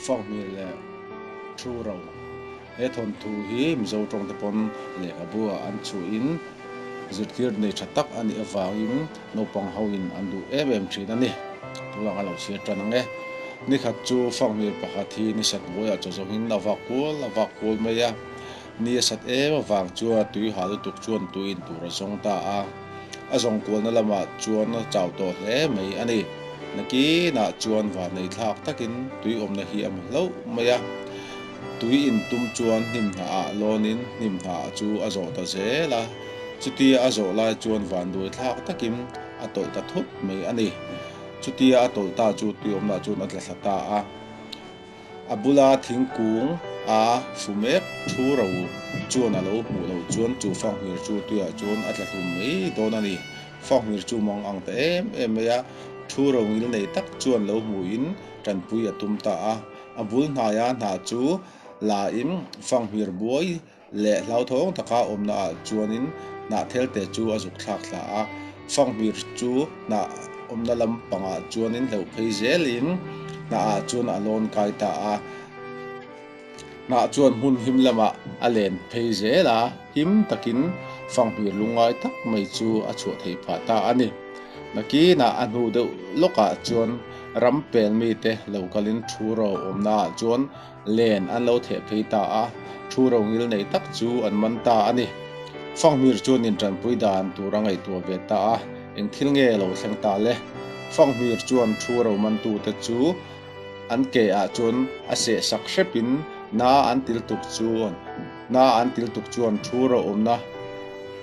Fangmi leh thu ro he thawnthu hi Mizo tawngte pawn lehkhabuah an chuhin zirtir nei tha tak a nih avangin naupang hoin an duh em em thin a ni. Tunah ka lo chhiar tan ang e. Nikhat chu Fangmi pakhat hi ni sa hnuaiah chaw zawngin a vak kual a vak kual mai a. Ni a sat em avang chuan tuiha lutuk chuan tui in tur a zawng ta a, a zawng kualna lamah chuan a chau tawh hle mai a ni. Nakinah chuan vannei thlak takin tui awmna hi a mu hlauh mai a, tui in tum chuan hnim hna ah lawnin hnim hna chu a zawh ta zel a, chutia a zawh lai chuan van duai thlak takin a tawlh ta thut mai a ni. Chutia a tawlh ta chu tui awmna chuan a tla thla ta a. A bula thingkung a fu mek thu ro chuan a lo hmuh lo chuan chu fanghmirtu tuiah chuan a tla hlum mai dawn a ni. Fanghmir chu mang ang ta em em mai a, thu ro ngil nei tak chuan lo hmuhin tanpui a tum ta a. A bul hnaia hna chu la in fanghmir buai leh hlauthawng taka awmna ah chuanin hnah thelte chu a zukthlak thla a, fanghmir chu hnah awmna lampangah chuanin hleuh phei zelin hnah ah chuan a lawn kai ta a, hnah chuan hmun him lamah a len phei zel a, him takin fanghmir lu ngai tak mai chu a chhuah thei pha ta a ni. Nakinah a hnu deuh lawkah chuan ram pel mite lo kalin thu ro awmna ah chuan Len an lo theh phei ta a, thu ro ngil neih tak chu an man ta a ni. Fanghmir chuan intanpui dan tur a ngaihtuah ve ta a, eng thil nge a lo thleng ta le? Fanghmir chuan thu ro mantute chu an ke ah chuan a seh sak hrep in na an til tuk chuan na an til tuk chuan thu ro awmna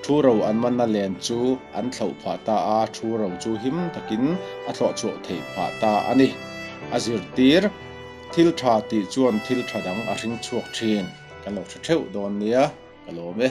thu ro an manna len chu an thlauh phah ta a, thu ro chu him takin a thlawhchhuah theih phah ta a ni a zirtir. Thil tha tih chuan thil tha dang a hring chhuak thin. Kan lo tha theuh dawn nia ka lawm e.